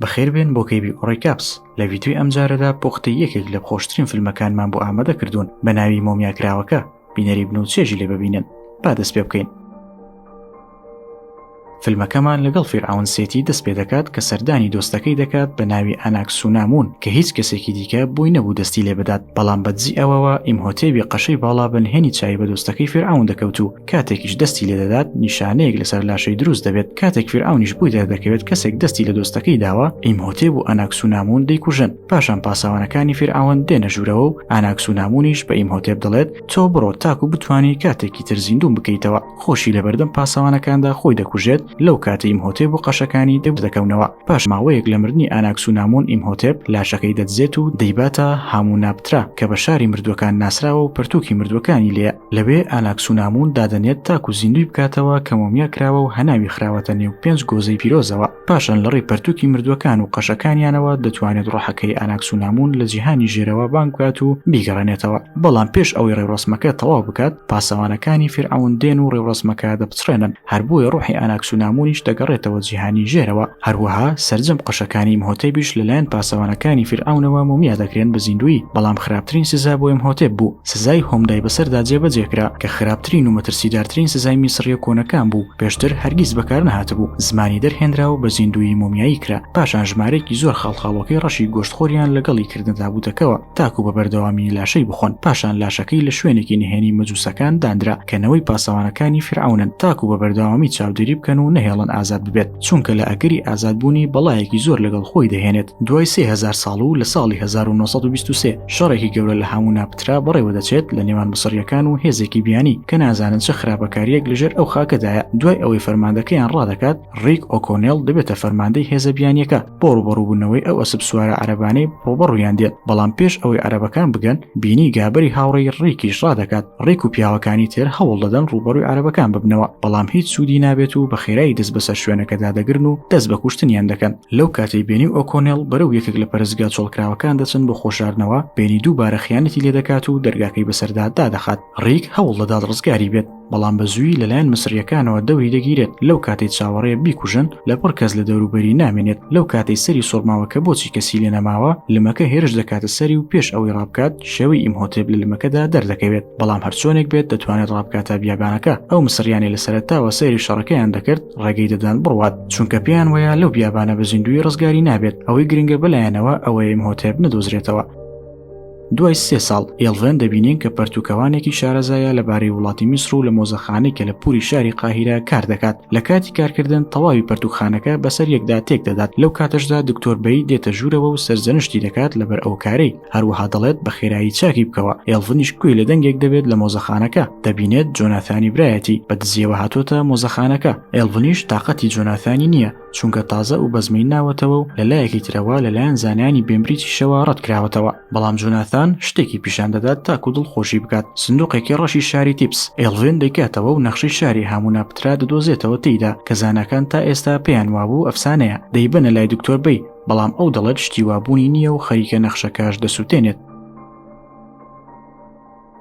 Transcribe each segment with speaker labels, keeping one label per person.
Speaker 1: بەخێربێن بۆ کەیبی ئۆڕیکاپس لە ڤیدیۆی ئەمجارەدا پۆختی یەکێک لە خۆشترین فیلمەکانمان بۆ ئامادە کردوون بە ناوی مۆمیاکراوەکە بینەری بن و چێژی لێ ببینن با دەست پێ بکەین فیلمەکەمان لەگەڵ فیرعون سێتی دەست پێ دەکات کە سەردانی دۆستەکەی دەکات بە ناوی ئەناکسونامون کە هیچ کەسێکی دیکە بووی نەبوو دەستی لێ بدات بەڵام بەدزی ئەوەوە ئیمهۆتێبی قەشەی باڵا بە نهێنی چاوی بە دۆستەکەی فیرعون دەکەوت و کاتێکیش دەستی لێ دەدات نیشانەیەک لەسەر لاشەی دروست دەبێت کاتێک فرعونیش بووی دەردەکەوێت کەسێک دەستی لە دۆستەکەی داوە ئیمهۆتێب و ئەناکسونامون دەیکوژن پاشان پاسەوانەکانی فرعون دێنە ژوورەوە و ئاناکسونامونیش بە ئیمهۆتێب دەڵێت تۆ بڕۆ تاکو بتانی کاتێکی تر زیندوم بکەیتەوە خۆشی لەبەردەم پاسەوانەکاندا خۆی دەکوژێت لەو کاتە ئیمهۆتێب و قەشەکانی دەبدەکەونەوە پاش ماوەیەک لە مردنی ئاناکسونامون ئیمهۆتێب لاشەکەی دەدزێت و دەیباتە هاموو نابترا کە بە شاری مردوەکان ناسراوە و پەرتووکی مردوەکانی لێ لەوێ ئاناکسونامون دادەنێت تاکو زیندوی بکاتەوە کە مۆمیا کراوە و هەناوی خراوەتە نێو پێنج گۆزەی پیرۆزەوە پاشان لە ڕێی پەرتوکی مردوەکان و قەشەکانیانەوە دەتوانێت ڕۆحەکەی ئاناکسونامون لە جیهانی ژێرەوە بانگکات و بیگەڕێنێتەوە بەڵام پێش ئەوەی ڕێوڕسمەکە تەواو بکات پاسەوانەکانی فرعون دێن و ڕێوڕسمەکە دەپچڕێنن هەر بۆیە ڕوحی ئاناکسونامونیش دەگەڕێتەوە جیهانی ژێرەوە، هەروەها سەرجەم قەشەکانی ئیمهۆتێبیش لەلایەن پاسەوانەکانی فیرعەونەوە مۆمیا دەکرێن بە زیندوویی، بەڵام خراپترین سزا بۆ ئیمهۆتێب بوو سزای هۆمدای بەسەردا جێبەجێ کرا، کە خراپترین و مەترسیدارترین سزای میسڕییە کۆنەکان بوو، پێشتر هەرگیز بەکارنەهاتبوو، زمانی دەرهێنرا و بە زیندوویی مۆمیایی کرا، پاشان ژمارەیەکی زۆر خاڵخاڵۆکەی ڕەشی گۆشتخۆریان لەگەڵی کردنە تابووتەکەوە. تاکو بە بەردەوامی لاشەی بخۆن پاشان لاشەکەی لە شوێنێکی نهێنی مەجووسەکان دانرا کە نەوەی پاسەوانەکانی فرعونن تاکو بە بەردەوامی چاودێری بکەن و نەهێڵن ئازاد ببێت چونکە لە ئەگەری ئازادبوونی بەڵایەکی زۆر لەگەڵ خۆی دەهێنێت دوای سهزار ساڵ و لە ساڵی 1923 شەڕێکی گەورە لە هاموو ناپترا بەڕێوە دەچێت لە نێوان مسڕیەکان و هێزێکی بیانی کە نازانن چه خراپەکاریەک لەژێر ئەو خاکەدایە دوای ئەوەی فەرماندەکەیان ڕادەکات ڕیک ئۆکۆنێل دەبێتە فەرماندەی هێزە بیانیەکە بۆ ڕوبەڕووبوونەوەی ئەو ئەسب سوارە عەربانەی ڕوبەڕویان دێت بەڵام پێش ئەوەی عەرەبەکان بگەن بینی گابەری هاوڕێی ڕیکیش ڕادەکات ڕێک و پیاوەکانی تێر هەوڵ دەدەن ڕوبەڕوی عەرەبەکان ببنەوە بەڵام هیچ سوودی نابێت و بە خێرایی دەست بەسەر شوێنەکەدا دەگرن و دەست بە کوشتنیان دەکەن لەو کاتی بینی و ئۆکۆنێل بەرەو یەکێک لە پەرستگا چۆڵکراوەکان دەچن بۆ خۆشاردنەوە بینی دووبارە خیانەتی لێ دەکات و دەرگاکەی بەسەردا دادەخات ڕیک هەوڵ دەدات ڕزگاری بێت بەڵام بە زووی لەلایەن مسریەکانەوە دەوری دەگیرێت لەو کاتەی چاوەڕێ بیکوژن لە پڕ کەس لە دەوروبەری نامێنێت لەو کاتەی سەری سۆرماوەکە بۆچی کەسی لێ نەماوە لمەکە هێرش دەکاتە سەری و پێش ئەوەی ڕابکات شێوەی ئیمهۆتێب لە لمەکەدا دەردەکەوێت بەڵام هەرچۆنێک بێت دەتوانێت ڕابکاتە بیابانەکە ئەو مسریانی لە سەرتاوە سەیری شەڕەکەیان دەکرد ڕێگەی دەدان بڕوات چونکە پێیان وەیە لەو بیابانە بە زیندوی ڕزگاری نابێت ئەوەی گرنگە بەلایەنەوە ئەوەیە ئیمهۆتێب نەدۆزرێتەوە دوای سێ ساڵ ئێڵڤێن دەبینین کە پەرتوکەوانێکی شارەزایە لەبارەی وڵاتی میسر و لە مۆزەخانەی کە لە پوری شاری قاهیرە کار دەکات لە کاتی کارکردن تەواوی پەرتوکخانەکە بەسەر یەکدا تێک دەدات لەو کاتەشدا دکتۆر بەی دێتە ژوورەوە و سەرزەنشتی دەکات لەبەر ئەو کارەی هەروەها دەڵێت بە خێرایی چاکی بکەوە ئێڵڤنیش کوێی لە دەنگێک دەبێت لە مۆزەخانەکە دەبینێت جۆناثانی برایەتی بە دزیەوە هاتۆتە مۆزەخانەکە ئێڵڤنیش تااقەتی جۆناثانی نییە چونکە تازە و بەزمەی ناوەتەوە و لەلایەکی ترەوە لەلایەن زانیانی بێمبریتیشەوە ڕەتکراوەتەوە بەڵام جۆناثان شتێکی پیشان دەدات تاکو دڵ خۆشی بکات سندوقێکی ڕەشی شاری تیپس ئێڵڤێن دەیکاتەوە و نەخشەی شاری هامونا پترا دەدۆزێتەوە تێیدا کە زاناکان تا ئێستا پێیان وابوو ئەفسانەیە دەیبەنە لای دکتۆر بی بەڵام ئەو دەڵێت شتی وابوونی نییە و خەریکە نەخشەکەش دەسووتێنێت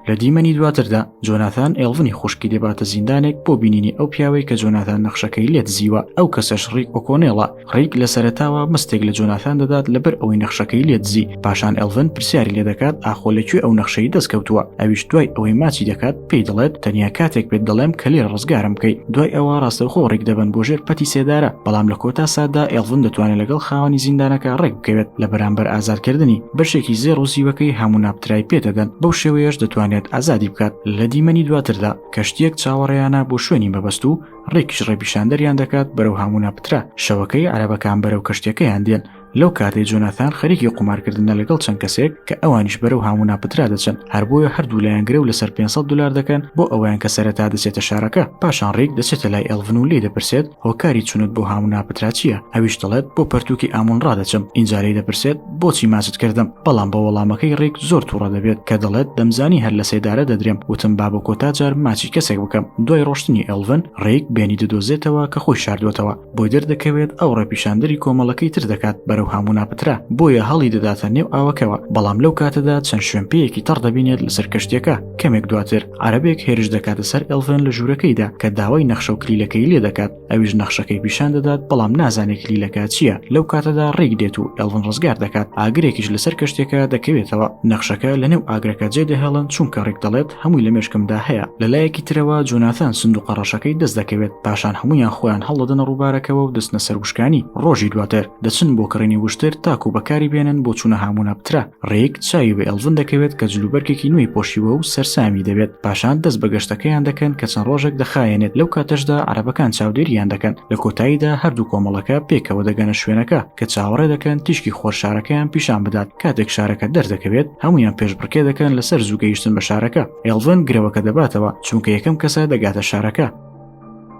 Speaker 1: لە دیمەنی دواتردا جۆناثان ئێڵڤنی خوشکی دەباتە زیندانێک بۆ بینینی ئەو پیاوەی کە جۆناثان نەخشەکەی لێت زیوە ئەو کەسەش ڕیک ئۆکۆنێڵە ڕیک لە سەرتاوە مستێک لە جۆناثان دەدات لەبەر ئەوەی نەخشەکەی لێت زی پاشان ئەلڤن پرسیاری لێ دەکات ئاخۆ لەکوێ ئەو نەخشەی دەستکەوتووە ئەویش دوای ئەوەی ماچی دەکات پێی دەڵێت تەنیا کاتێک پێت دەڵێم کە لێ ڕزگارم بکەی دوای ئەوە ڕاستەوخۆ ڕێک دەبن بۆ ژێر پەتی سێدارە بەڵام لە کۆتا سادا ئێڵڤن دەتوانێت لەگەڵ خاوەنی زیندانەکە ڕێک بکەوێت لە بەرامبەر ئازادکردنی بەشێکی زێڕ و زیوەکەی هەموو ناپترای پێدەدەن بەو شێوەیەش دەتوانێت ئازادی بکات لە دیمەنی دواتردا کەشتیەک چاوەڕێیانە بۆ شوێنی مەبەست و ڕێکیش ڕێپیشاندەریان دەکات بەرەو هەموو ناپترا شەوەکەی عربەکان بەرەو کەشتەکەیان دێن لەو کاتێ جۆناثان خەریکی قومارکردنە لەگەڵ چەند کەسێک کە ئەوانیش بەرەو هەموو ناپترا دەچن هەر بۆیە هەردوو لایەن گرە و لەسەر 500 دلار دەکەن بۆ ئەویان کە سەرەتا دەچێتە شارەکە پاشان ڕێک دەچێتە لای ئەلڤن و لێ دەپرسێت هۆکاری چونت بۆ هەموو ناپترا چییە ئەویش دەڵێت بۆ پەرتووکی ئامون ڕادەچم ئینجا لێی دەپرسێت بۆچی ماچت کردم بەڵام بە وەڵامەکەی ڕێک زۆر تووڕە دەبێت کە دەڵێت دەمزانی هەر لە سێدارە دەدرێم وتم با بۆ کۆتا جار ماچی کەسێک بکەم دوای ڕۆشتنی ئەلڤن ڕێک بێنی دەدۆزێتەوە کە خۆی شاردوەتەوە بۆی دەردەکەوێت ئەو ڕێپیشاندەری کۆمەڵەکەی تر دەکات بەرەو هامونا پترا بۆیە هەڵی دەداتە نێو ئاوەکەوە بەڵام لەو کاتەدا چەند شوێنپێیەکی تەڕ دەبینێت لەسەر کەشتەکە کەمێک دواتر عربێک هێرش دەکاتە سەر ئەلڤن لە ژوورەکەیدا کە داوای نەخشە و کلیلەکەی لێ دەکات ئەویش نەخشەکەی پیشان دەدات بەڵام نازانێت کلیلەکە چییە لەو کاتەدا ڕێک دێت و ئەڵن ڕزگار دەکات ئاگرێکیش لەسەر کەشتێکە دەکەوێتەوە نەخشەکە لە نێو ئاگرەکە جێ دەهێڵن چونکە ڕێک دەڵێت هەمووی لە مێشکمدا هەیە لە لایەکی ترەوە جۆناثان سندوقە ڕەشەکەی دەست دەکەوێت پاشان هەمویان خۆیان هەڵدەدەنە ڕووبارەکەەوە و دەستنە سەروشکانی ڕۆژی دواتر دەچن بۆ کڕینی وشتر تاکو بەکاری بێنن بۆ چوونە هامونە پترا ڕێک چاوی بە ئێڵڤن دەکەوێت کە جلوبەرگێکی نوێی پۆشیوە و سەرسامی دەبێت پاشان دەست بە گەشتەکەیان دەکەن کە چەند ڕۆژێک دەخایەنێت لەو کاتەشدا عربەکان چاودێریان دەکەن لە کۆتاییدا هەردوو کۆمەڵەکە پێکەوە دەگەنە شوێنەکە کە چاوەڕێ دەکەن تیشکی خۆر شارەکەیان پیشان بدات کاتێک شارەکە دەردەکەوێت هەمویان پێشبڕکێ دەکەن لەسەر زوو گەیشتن بە شارەکە ئێڵڤن گرەوەکە دەباتەوە چونکە یەکەم کەسە دەگاتە شارەکە.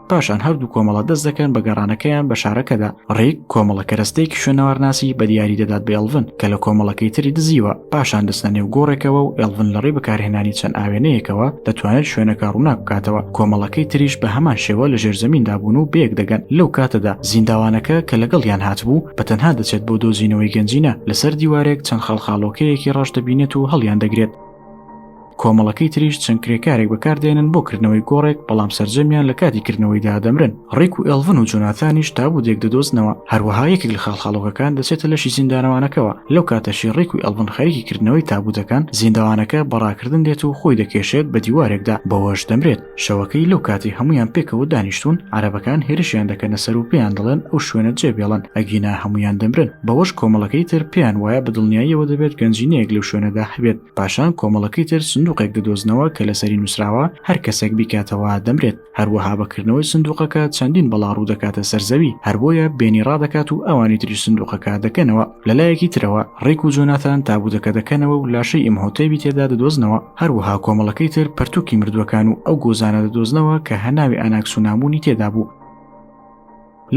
Speaker 1: پاشان هەردوو کۆمەڵە دەست دەکەن بە گەڕانەکەیان بە شارەکەدا ڕێک کۆمەڵە کەرەستەیەکی شوێنەوارناسی بە دیاری دەدات بە ئێڵڤن کە لە کۆمەڵەکەی تری دزیوە پاشان دەستە نێو گۆڕێکەوە و ئێڵڤن لە ڕێ بەکارهێنانی چەند ئاوێنەیەکەوە دەتوانێت شوێنەکە ڕووناک بکاتەوە کۆمەڵەکەی تریش بە هەمان شێوە لە ژێرزەمیندا بوون و بەیەک دەگەن لەو کاتەدا زینداوانەکە کە لەگەڵیان هاتبوو بە تەنها دەچێت بۆ دۆزینەوەی گەنجینە لەسەر دیوارێک چەند خەڵخاڵۆکەیەکی ڕەش دەبینێت و هەڵیان دەگرێت کۆمەڵەکەی تریش چەند کرێکارێک بەکاردێنن بۆ کردنەوەی گۆڕێک بەڵام سرجەمیان لە کاتی کردنەوەی دادەمرن ڕیک و ئێلڤن و جۆناتانیش تابوو دێک دەدۆزنەوە هەروەها یەکێک لە خاڵخاڵۆکەکان دەچێتە لەشی زیندانەوانەکەەوە لەو کاتەشی ڕیک و ئەلڤن خەریکی کردنەوەی تابوو دەکەن زیندەوانەکە بەڕاکردن دێت و خۆی دەکێشێت بە دیوارێکدا بەوەش دەمرێت شەوەکەی لەو کاتی هەمویان پێکەوە دانیشتون عربەکان هێرشیان دەکەنە سەر و پێیان دەڵێن ئەو شوێنە جێ بێڵن ئەگینا هەمویان دەمرن بەوەش کۆمەڵەکەی تر پێیان وایە بەدڵنیاییەوە دەبێت گەنجینەیەک لەو شوێنەدا هەبێت پاشان کۆمەڵەکەی تر سندوقێک دەدۆزنەوە کە لەسەری نووسراوە هەر کەسێک بیکاتەوە دەمرێت هەروەها بەکردنەوەی سندوقەکە چەندین بەڵا ڕوو دەکاتە سەرزەوی هەربۆیە بێنی ڕادەکات و ئەوانی تری سندوقەکە دەکەنەوە لەلایەکی ترەوە ڕێک و جۆناتان تابوودەکە دەکەنەوە و لاشەی ئیم هۆتێبی تێدا دەدۆزنەوە هەروەها کۆمەڵەکەی تر پەرتووکی مردووەکان و ئەو گۆزانە دەدۆزنەوە کە هەناوی ئەناکسونامونی تێدا بوو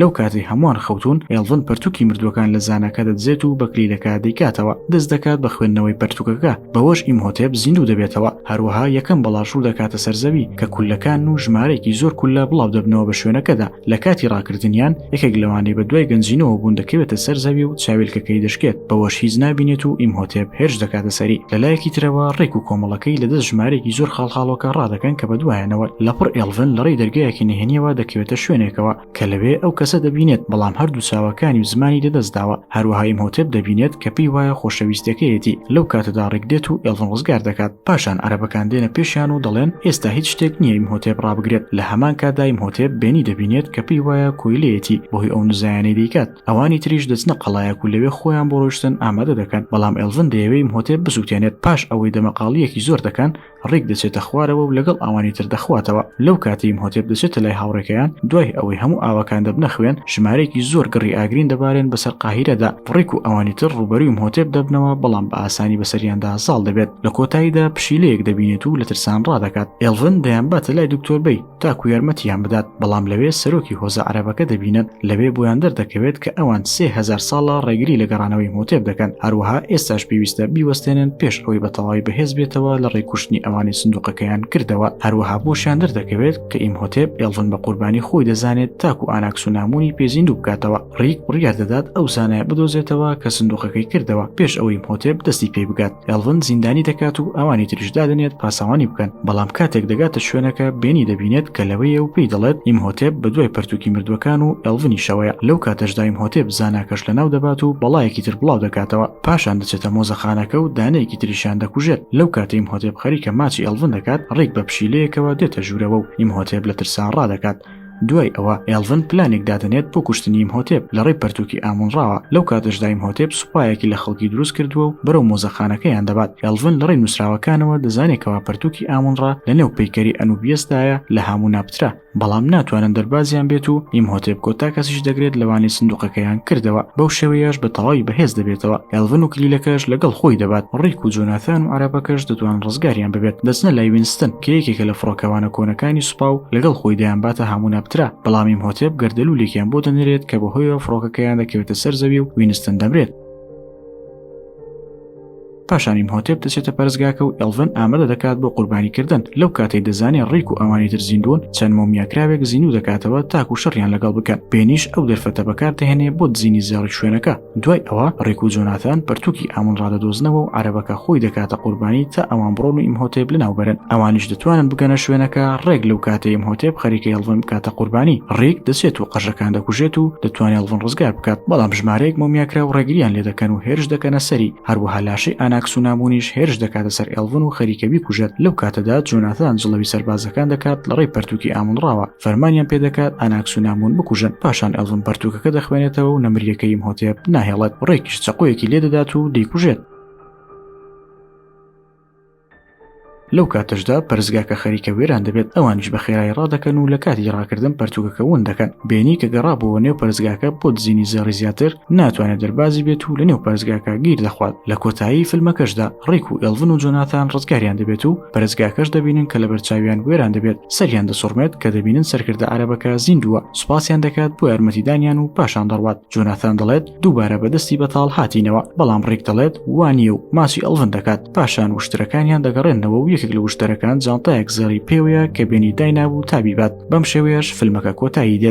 Speaker 1: لەو کاتەی هەمووان خەوتون ئێڵڤن پەرتوکی مردووەکان لە زانەکە دەدزێت و بەکلیلەکە دەیکاتەوە دەست دەکات بە خوێندنەوەی پەرتوکەکە بەوەش ئیمهۆتێب زیندوو دەبێتەوە هەروەها یەکەم بەڵاش ڕوو دەکاتە سەرزەوی کە کولەکان و ژمارەیەکی زۆر کولە بڵاو دەبنەوە بە شوێنەکەدا لە کاتی ڕاکردنیان یەکێک لەوانەی بە دوای گەنجینەوە بوون دەکەوێتە سەر زەوی و چاویلکەکەی دەشکێت بەوەش هیچ نابینێت و ئیمهۆتێب هێرش دەکاتە سەری لەلایەکی ترەوە ڕێک و کۆمەڵەکەی لە دەست ژمارێکی زۆر خاڵخاڵۆکە ڕادەکەن کە بەدوایانەوە لە پڕ ئێڵڤن لە ڕێی دەرگایەکی نهێنیەوە دەکەوێتە شوێنێکەوە کە لەوێ ئەو کەسە دەبینێت بەڵام هەردوو چاوەکانی و زمانی لەدەستداوە هەروەها ئیمهۆتێب دەبینێت کە پێی وایە خۆشەویستەکەیەتی لەو کاتەدا ڕێک دێت و ئێڵڤن ڕزگار دەکات پاشان عەرەبەکان دێنە پێشیان و دەڵێن ئێستا هیچ شتێک نییە ئیمهۆتێب ڕابگرێت لە هەمان کاتدا ئیمهۆتێب بێنی دەبینێت کە پێی وایە کۆیلەیەتی بەهۆی ئەو نزایانەی دەیکات ئەوانی تریش دەچنە قەڵایەک و لەوێ خۆیان بۆ ڕۆشتن ئامادە دەکەن بەڵام ئێلڤن دەیەوەی مهۆتێب بسووتێنێت پاش ئەوەی دەمەقاڵیەکی زۆر دەکەن ڕیک دەچێتە خوارەوە و لەگەڵ ئەوانی تر دەخواتەوە لەو کاتەی مهۆتێب دەچێتە لای هاوڕێکەیان دوای ئەوەی هەموو ئاوەکان دەبنە خوێن ژمارەیەکی زۆر گڕی ئاگرین دەبارێن بەسەر قاهیرەدا ڕیک و ئەوانی تر ڕووبەرووی مهۆتێب دەبنەوە بەڵام بە ئاسانی بەسەریاندا زاڵ دەبێت لە کۆتاییدا پشیلەیەک دەبینێت و لە ترسان ڕادەکات ئێلڤن دەیانباتە لای دکتۆر بەی تاکو یارمەتیان بدات بەڵام لەوێ سەرۆکی هۆزە عربەکە دەبینن لەوێ بۆیان دەردەکەوێت کە ئەوان سهزار ساڵە ڕێگری لە گەڕانەوەی مۆتێب دەکەن هەروەها ئێستاش پێویستە بیوەستێنن پێش ئەوەی بە تەواوی بەهێز بێتەوە لە ڕێکوشتنی ئەوانی سندوقەکەیان کردەوە هەروەها بۆشیان دەردەکەوێت کە ئیم هۆتێب ئێڵڤن بە قوربانی خۆی دەزانێت تاکو ئاناکسونامونی پێزیندوو بکاتەوە ڕیک بڕیار دەدات ئەو زانایە بدۆزێتەوە کە سندوقەکەی کردەوە پێش ئەوەی مۆتێب دەستی پێی بگات ئەلڤن زیندانی دەکات و ئەوانی تریش دادنێت پاسەوانی بکەن بەڵام کاتێک دەگاتە شوێنەکە بێنی دەبینێت کە لەوەیە و پێی دەڵێت ئیمهۆتێب بە دوای پەرتوکی مردووەکان و ئەلڤنیشەوەیە لەو کاتەشدا ئیمهۆتێب زاناکەش لەناو دەبات و بەڵایەکی تر بڵاو دەکاتەوە پاشان دەچێتە مۆزەخانەکە و دانەیەکی تریشیان دەکوژێت لەو کاتە ئیمهۆتێب خەریکە ماچی ئەلڤن دەکات ڕیک بە پشیلەیەکەوە دێتە ژوورەوە و ئیمهۆتێب لە ترسا ڕادەکات دوای ئەوە ئێڵڤن پلانێک دادەنێت بۆ کوشتنی ئیمهۆتێب لە ڕێی پەرتووکی ئامونڕاوە لەو کاتەشدا ئیمهۆتێب سوپایەکی لە خەڵکی دروست کردووە و بەرەو مۆزەخانەکەیان دەبات ئێڵڤن لە ڕێی نووسراوەکانەوە دەزانێت کەوا پەرتووکی ئامونڕا لەنێو پەیکەری ئەنوبیەسدایە لە هاموناپترا بەڵام ناتوانن دەربازیان بێت و ئیمهۆتێب کۆتا کەسیش دەگرێت لەوانەی سندوقەکەیان کردەوە بەو شێوەیەش بە تەواوی بەهێز دەبێتەوە ئێڵڤن و کلیلەکەش لەگەڵ خۆی دەبات ڕیک و جۆناثان و عەرەبەکەش دەتوان ڕزگاریان ببێت دەچنە لای وینستن کە یەکێکە لە فڕۆکەوانە کۆنەکانی سوپا و لەگەڵ خۆی دەیانباتە هاموناپترا بەڵام ئیمهۆتێب گەردەلوولێکیان بۆ دەنرێت کە بەهۆیەوە فڕۆکەکەیان دەکەوێتە سەر زەوی و وینستن دەمرێت پاشان ئیمهۆتێب دەچێتە پەرستگاکە و ئەلڤن ئامادە دەکات بۆ قوربانیکردن لەو کاتەی دەزانێت ڕیک و ئەوانی تر زیندوون چەند مۆمیاکراوێک زیندوو دەکاتەوە تاکو شەڕیان لەگەڵ بکەن بێنیش ئەو دەرفەتە بەکاردەهێنێ بۆ دزینی زێڕی شوێنەکە دوای ئەوە ڕێک و جۆناتان پرتووکی ئامون ڕادەدۆزنەوە و عربەکە خۆی دەکاتە قوربانی تا ئەوان بڕۆن و ئیمهۆتێب لەناوبەرن ئەوانیش دەتوانن بگەنە شوێنەکە ڕێک لەو کاتەیە هۆتێب خەریکە هێڵڤن بکاتە قوربانی ڕێک دەچێت و قەژەکان دەکوژێت و دەتوانێت هەڵڤن ڕزگار بکات بەڵام ژمارەیەک مۆمیاکرا و ڕێگریان لێ دەکەن و هێرش دەکەنە سەری هەروەها لاشەی ئاناکس و نامونیش هێرش دەکاتە سەر ئێلڤن و خەریکەبی کوژێت لەو کاتەدا جۆناتان جڵەوی سەربازەکان دەکات لەڕێی پرتووکی ئامون ڕاوە فەرمانیان پێدەکات ئاناکسونامون بکوژن پاشان ئەڵم پەرتوکەکە دەخوێنێتەوە و نەمریەکەیم هۆتێب ناهێڵێت ڕێکیش چەقۆیەکی لێ دەدات و دەیکوژێت لەو کاتەشدا پەرزگاکە خەریکە وێران دەبێت ئەوانش بە خێرای ڕادەکەن و لە کاتی ڕاکردن پەرتوکەکە ون دەکەن بینی کە گەڕابووە نێو پەرزگاکە بۆ دزینی زێڕی زیاتر ناتوانێت دەربازی بێت و لە نێو پەرزگاکە گیر دەخوات لە کۆتایی فیلمەکەشدا ڕێک و ئێلڤن و جۆناتان ڕزگاریان دەبێت و پەرستگاکەش دەبینن کە لە بەرچاویان بوێران دەبێت سەریان دەسوڕمێت کە دەبینن سەرکردە عربەکە زیندووە سوپاسیان دەکات بۆ یارمەتیدانیان و پاشان دەڕوات جۆناثان دەڵێت دووبارە بەدەستی بەتاڵ هاتینەوە بەڵام ڕێک دەڵێت وانە و ماسی ئەڵڤن دەکات پاشان وشترەکانیان دەگەڕێنەوە و یەکێک لە وشتەرەکان جانتایەک زێڕی پێوەیە کە بێنی داینابوو تابیبات بەم شێوەیەش فیلمەکە کۆتایی دێت